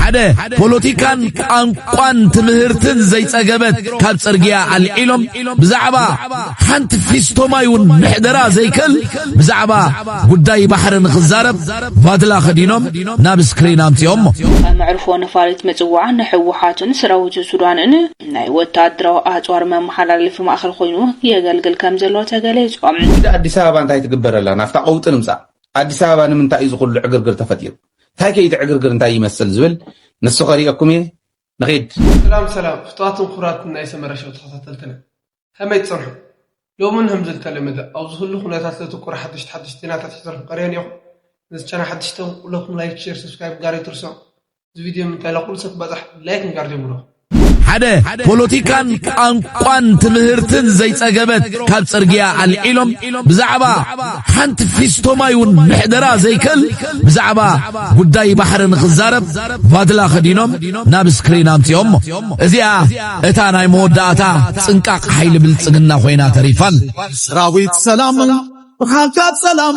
ሓደ ፖለቲካን ቋንቋን ትምህርትን ዘይጸገበት ካብ ጽርግያ ኣልዒሎም ብዛዕባ ሓንቲ ፊስቶ ማይ እውን ምሕደራ ዘይክእል ብዛዕባ ጉዳይ ባሕሪ ንኽዛረብ ቫድላ ኸዲኖም ናብ ስክሪን ኣምጺኦሞ። መዕርፎ ነፋሪት ምጽዋዕ ንሕወሓትን ስራዊት ሱዳንን ናይ ወተሃደራዊ ኣጽዋር መመሓላለፊ ማእኸል ኮይኑ የገልግል ከምዘሎ ተገሊጹ። ሕጂ ኣዲስ ኣበባ እንታይ ትግበር ኣላ ናብታ ቀውጢ ንምጻእ ኣዲስ ኣበባ ንምንታይ እዩ ዝኹሉ ዕግርግር ተፈጢሩ? እንታይ ከ ኢቲ ዕግርግር እንታይ ይመስል ዝብል ንሱ ከርእየኩም እየ ንኺድ። ሰላም ሰላም ፍትዋትን ኩቡራትን ናይ ሰመረ ሸው ተኸታተልትና ከመይ ትጸንሑ ሎምን ህምዚ ልተለመደ ኣብ ዝህሉ ኩነታት ለትኩር ሓድሽቲ ሓድሽቲ ዜናታት ሒዘልኩም ቀርየ ኔኹ ነዚ ቻና ሓድሽቲ ኩለኩም ላይክ ሼር ሰብስክራይብ ጋር ኣይትርስዑ እዚ ቪድዮ ንምንታይ ለኩሉ ሰብ ክበጻሕ ላይክ ምጋር ጀምሩ። ሓደ ፖለቲካን ቋንቋን ትምህርትን ዘይጸገበት ካብ ጽርግያ ኣልዒሎም ብዛዕባ ሓንቲ ፊስቶ ማይ እውን ምሕደራ ዘይክእል ብዛዕባ ጉዳይ ባሕሪ ንኽዛረብ ቫድላ ኸዲኖም ናብ ስክሪን ኣምጺኦሞ እዚኣ እታ ናይ መወዳእታ ጽንቃቕ ሓይሊ ብልጽግና ኮይና ተሪፋል ሰራዊት ሰላም ብሓንካ ሰላም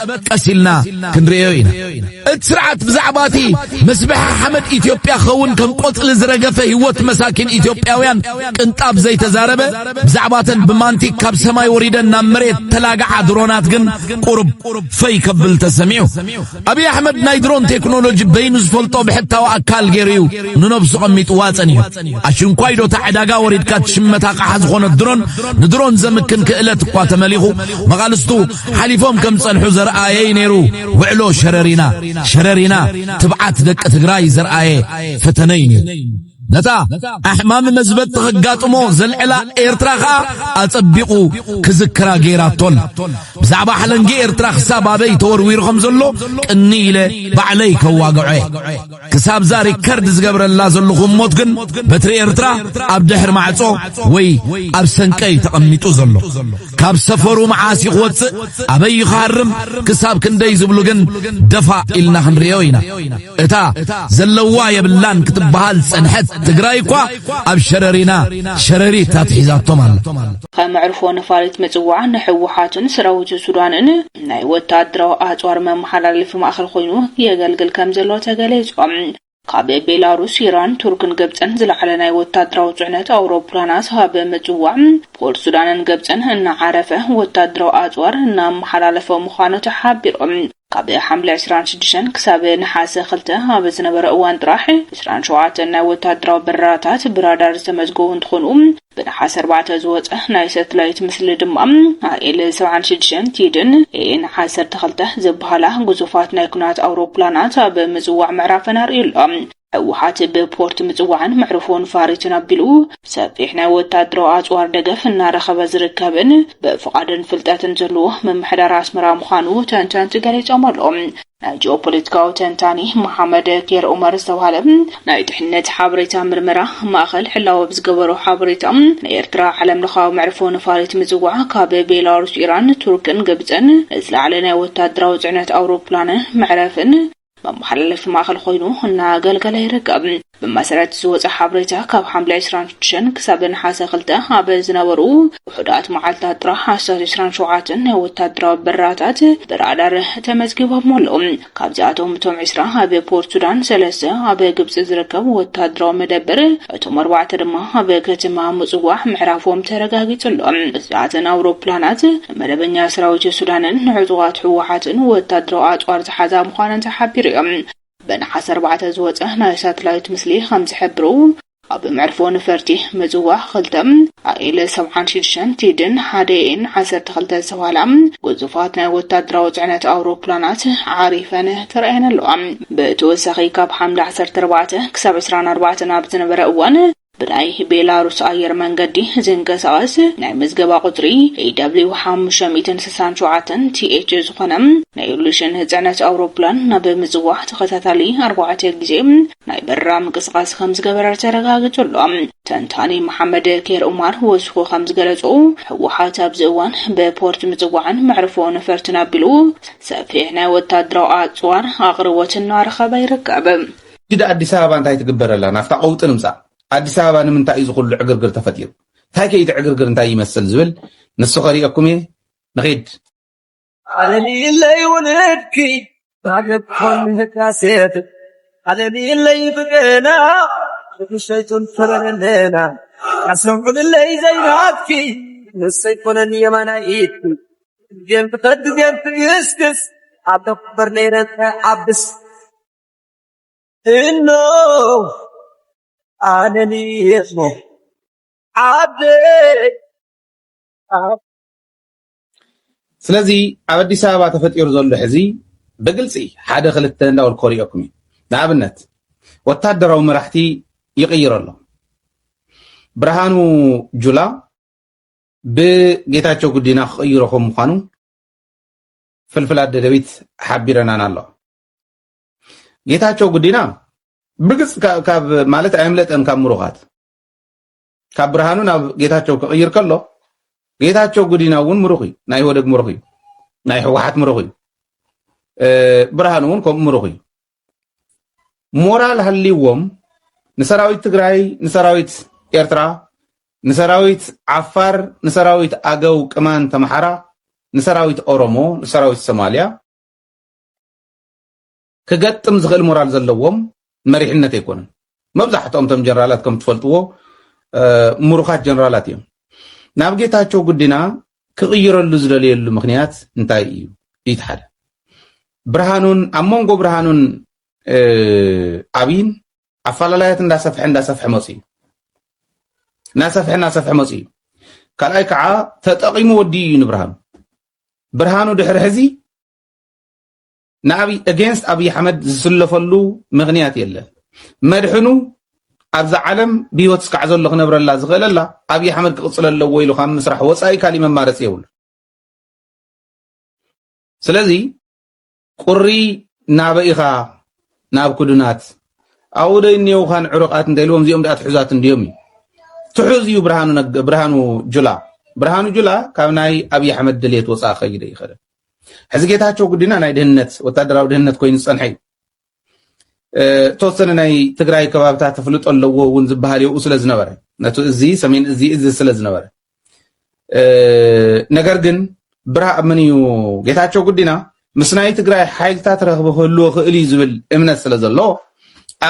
ቀበቀስ ኢልና ክንርእዮ ኢና እቲ ስርዓት ብዛዕባ እቲ መስብሐ ሓመድ ኢትዮጵያ ኸውን ከም ቆጽሊ ዝረገፈ ህይወት መሳኪን ኢትዮጵያውያን ቅንጣብ ዘይተዛረበ ብዛዕባተን ብማንቲክ ካብ ሰማይ ወሪደን ናብ መሬት ተላግዓ ድሮናት ግን ቁርብ ፈይ ከብል ተሰሚዑ ኣብዪ ኣሕመድ ናይ ድሮን ቴክኖሎጂ በይኑ ዝፈልጦ ብሕታዊ ኣካል ገይሩ እዩ ንነብሱ ቀሚጥዋ ጸኒሑ ኣሽንኳይ ዶታ ዕዳጋ ወሪድካ ትሽመታ ቃሓ ዝኾነት ድሮን ንድሮን ዘምክን ክእለት እኳ ተመሊኹ መቓልስቱ ሓሊፎም ከም ዝጸንሑ ዘርኣየ'ዩ ነይሩ ውዕሎ ሸረሪና። ሸረሪና ትብዓት ደቂ ትግራይ ዘርኣየ ፈተነ'ዩ ነይሩ። ነታ ኣሕማሚ መዝበጥ ኸጋጥሞ ዘልዕላ ኤርትራ ኸኣ ኣጸቢቑ ክዝክራ ገይራቶ ኣላ። ብዛዕባ ሓለንጊ ኤርትራ ክሳብ ኣበይ ተወርዊሩ ከም ዘሎ ቅንይ ኢለ ባዕለይ ከዋግዖ'የ። ክሳብዛ ሪከርድ ዝገብረላ ዘለኹ እሞት ግን በትሪ ኤርትራ ኣብ ድሕሪ ማዕጾ ወይ ኣብ ሰንቀይ ተቐሚጡ ዘሎ ካብ ሰፈሩ መዓስ እዩ ክወጽእ ኣበይ እዩ ክሃርም ክሳብ ክንደይ ዝብሉ ግን ደፋእ ኢልና ክንርእዮ ኢና እታ ዘለዋ የብላን ክትበሃል ጸንሐት ትግራይ እኳ ኣብ ሸረሪና ሸረሪት ኣትሒዛቶም ኣላ ከም መዕርፎ ነፋሪት ምጽዋዕ ንሕወሓትን ሰራዊት ሱዳንን ናይ ወተሃደራዊ ኣጽዋር መመሓላለፊ ማእከል ኮይኑ የገልግል ከም ዘሎ ተገሊጹ። ካብ ቤላሩስ፣ ኢራን፣ ቱርክን ግብጽን ዝለዓለ ናይ ወተሃደራዊ ጽዕነት ኣውሮፕላናት ኣብ ምጽዋዕ ፖርት ሱዳንን ግብጽን እናዓረፈ ወተሃደራዊ ኣጽዋር እናመሓላለፈ ምዃኑ ተሓቢሩ። ካብ ሓምለ ዕስራን ሽዱሽተን ክሳብ ነሓሰ ክልተ ኣብ ዝነበረ እዋን ጥራሕ ዕስራን ሸውዓተን ናይ ወተሃደራዊ በረራታት ብራዳር ዝተመዝገቡ እንትኾኑ፣ ብነሓሰ ኣርባዕተ ዝወፀ ናይ ሰትላይት ምስሊ ድማ ኣኤል ሰብዓን ሽዱሽተን ቲድን ኤኤን ዓሰርተ ክልተ ዝበሃላ ግዙፋት ናይ ኩናት ኣውሮፕላናት ኣብ ምፅዋዕ ምዕራፈን ኣርእዩ ኣሎ። ህወሓት ብፖርት ምጽዋዕን መዕርፎ ንፋሪትን ኣቢሉ ሰፊሕ ናይ ወታደራዊ ኣጽዋር ደገፍ እናረኸበ ዝርከብን ብፍቓድን ፍልጠትን ዘለዎ ምምሕዳር ኣስመራ ምዃኑ ተንተንቲ ገሊጾም ኣለዉ። ናይ ጂኦፖለቲካዊ ተንታኒ መሓመድ ኬር ኡመር ዝተባህለ ናይ ድሕነት ሓበሬታ ምርመራ ማእኸል ሕላወ ብዝገበሮ ሓበሬታ ንኤርትራ ዓለምለኻዊ መዕርፎ ነፋሪት ምጽዋዕ ካብ ቤላሩስ፣ ኢራን፣ ቱርክን ግብጽን ንዝለዓለ ናይ ወታደራዊ ጽዕነት ኣውሮፕላንን መዕረፍን መመሓላለፊ ማእኸል ኾይኑ እናኣገልገለ ይርከብ። ብመሰረት ዝወፀ ሓበሬታ ካብ ሓምለ ዕስራን ሽዱሽተን ክሳብ ነሓሰ ክልተ ኣብ ዝነበሩ ውሑዳት መዓልታት ጥራሕ ኣስታት ዕስራን ሸውዓተን ናይ ወታደራዊ በረራታት ብራዳር ተመዝጊቦም ኣሎ። ካብዚኣቶም እቶም ዕስራ ኣብ ፖርት ሱዳን፣ ሰለስተ ኣብ ግብፂ ዝርከብ ወታደራዊ መደበር፣ እቶም ኣርባዕተ ድማ ኣብ ከተማ ምፅዋዕ ምዕራፎም ተረጋጊፁ ኣሎ። እዚኣተን ኣውሮፕላናት መደበኛ ሰራዊት ሱዳንን ንዕጡቓት ህወሓትን ወታደራዊ ኣፅዋር ዝሓዛ ምዃነን ተሓቢሩ እዩ። በነሓሰ ኣርባዕተ ዝወፀ ናይ ሳትላይት ምስሊ ከምዝሕብሩ፣ ኣብ መዕርፎ ነፈርቲ ምጽዋ ክልተ፣ ኣኤል ሰብዓን ሽዱሽተን ቲድን ሓደ ኤን ዓሰርተ ክልተ ዝተብሃላ ግዙፋት ናይ ወታደራዊ ጽዕነት ኣውሮፕላናት ዓሪፈን ተራእየን ኣለዋ። ብተወሳኺ ካብ ሓምለ ዓሰርተ ኣርባዕተ ክሳብ ዕስራን ኣርባዕተን ኣብ ዝነበረ እዋን ብናይ ቤላሩስ ኣየር መንገዲ ዝንቀሳቐስ ናይ ምዝገባ ቁጽሪ AW ሓሙሽተ ሚእትን ስሳን ሸውዓተን TH ዝኾነ ናይ ሉሽን ጽዕነት ኣውሮፕላን ናብ ምጽዋ ተኸታታሊ ኣርባዕተ ግዜ ናይ በረራ ምንቅስቓስ ከም ዝገበረ ተረጋጊጹ ኣሎ። ተንታኒ መሓመድ ኬር ኡማር ወሲኹ ከም ዝገለጾ፣ ህወሓት ኣብዚ እዋን ብፖርት ምጽዋዕን መዕርፎ ነፈርትን ኣቢሉ ሰፊሕ ናይ ወተሃደራዊ ኣጽዋር ኣቕርቦት እናረኸበ ይርከብ። ሕጂ ድኣ ኣዲስ ኣበባ እንታይ ትግበር ኣላ ናብታ ቀውጢ ንምጻእ ኣዲስ ኣበባ ንምንታይ እዩ ዝኹሉ ዕግርግር ተፈጢሩ እንታይ ከ እቲ ዕግርግር እንታይ ይመስል ዝብል ንሱ ከሪኤኩም እየ ንኺድ ዓለሚለይ ውልድኪ ባገብኮን ህዳሴት ዓለሚለይ ብገና ብሸይቱን ፈረለና ኣሰምዑልለይ ዘይናትኪ ንሰይ ኮነን የማናይት ገም ትኸድ ገም ትግስግስ ኣብ ተኩበር ነይረን ዓብስ እኖ ኣነኒስ ሞ ዓደይ ስለዚ ኣብ ኣዲስ ኣበባ ተፈጢሩ ዘሎ ሕዚ ብግልፂ ሓደ ክልተ እንዳበል ኮሪኦኩም እዩ ንኣብነት ወታደራዊ መራሕቲ ይቕይር ኣሎ ብርሃኑ ጁላ ብጌታቸው ጉዲና ክቕይሮ ከም ምኳኑ ፍልፍል ኣደደቢት ሓቢረናን ኣሎ ጌታቸው ጉዲና ብግፅ ካብ ማለት ኣየምለጠን ካብ ምሩኻት ካብ ብርሃኑ ናብ ጌታቸው ክቕይር ከሎ ጌታቸው ጉዲና እውን ምሩኽ እዩ ናይ ወደግ ምሩኽ እዩ ናይ ህወሓት ምሩኽ እዩ ብርሃኑ እውን ከምኡ ምሩኽ እዩ ሞራል ሃልዎም ንሰራዊት ትግራይ ንሰራዊት ኤርትራ ንሰራዊት ዓፋር ንሰራዊት ኣገው ቅማን ተምሓራ ንሰራዊት ኦሮሞ ንሰራዊት ሶማልያ ክገጥም ዝኽእል ሞራል ዘለዎም መሪሕነት ኣይኮነን መብዛሕትኦም እቶም ጀነራላት ከም ትፈልጥዎ ምሩኻት ጀነራላት እዮም ናብ ጌታቸው ጉዲና ክቕይረሉ ዝደለየሉ ምክንያት እንታይ እዩ እቲ ሓደ ብርሃኑን ኣብ መንጎ ብርሃኑን ኣብይን ኣፈላላያት እንዳሰፍሐ እንዳሰፍሐ መፅ እዩ እናሰፍሐ እናሰፍሐ መፅ እዩ ካልኣይ ከዓ ተጠቂሙ ወዲኡ እዩ ንብርሃኑ ብርሃኑ ድሕሪ ሕዚ ንኣብይ against ኣብይ ኣሕመድ ዝስለፈሉ ምኽንያት የለን መድሕኑ ኣብዛ ዓለም ብሂወት እስካዕ ዘሎ ክነብረላ ዝኽእለላ ኣብይ ኣሕመድ ክቕፅለ ኣለዎ ኢሉ ካብ ምስራሕ ወፃኢ ካሊእ መማረፂ የብሉ ስለዚ ቁሪ ናበኢኻ ናብ ክዱናት ኣብኡ ዶ እኒኦውኻን ዕሩቃት እንታይ ኢልዎም እዚኦም ድኣ ትሑዛት እንድዮም እዩ ትሑዝ እዩ ብርሃኑ ጁላ ብርሃኑ ጁላ ካብ ናይ ኣብዪ ኣሕመድ ድሌት ወፃኢ ከይደ ይኸደ ሕዚ ጌታቸው ግዲና ናይ ድህነት ወታደራዊ ድህነት ኮይኑ ዝፀንሐ እዩ ተወሰነ ናይ ትግራይ ከባብታት ተፍልጦ ኣለዎ እውን ዝበሃል የኡ ስለ ዝነበረ ነቲ እዚ ሰሜን እዚ እዚ ስለ ዝነበረ ነገር ግን ብርሃ ምን እዩ ጌታቸው ግዲና ምስ ናይ ትግራይ ሓይልታት ረኽቢ ክህልዎ ክእል እዩ ዝብል እምነት ስለ ዘለዎ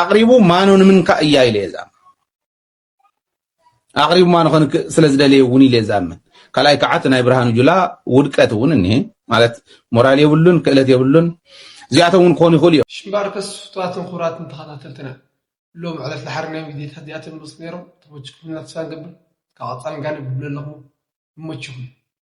ኣቕሪቡ ማኖ ንምንካ እያ ኢለ እዛ ኣቕሪቡ ማኑ ከንክእ ስለ ዝደለየ እውን ኢለ ዝኣምን ካልኣይ ከዓ እቲ ናይ ብርሃኑ ጁላ ውድቀት እውን እኒሀ ማለት ሞራል የብሉን ክእለት የብሉን እዚኣቶም እውን ክኾኑ ይኽእሉ እዮም ሽምባርከስ ፍቱዋትን ክቡራትን ተኸታተልትና ሎም ዕለት ድሓር ናይ ቪድዮታት እዚኣተን ምስ ነይሮም ተመችኩም እናተስፋ ንገብር ካብ ቐፃሊ ጋን የብሉ ኣለኹ ይመችኹም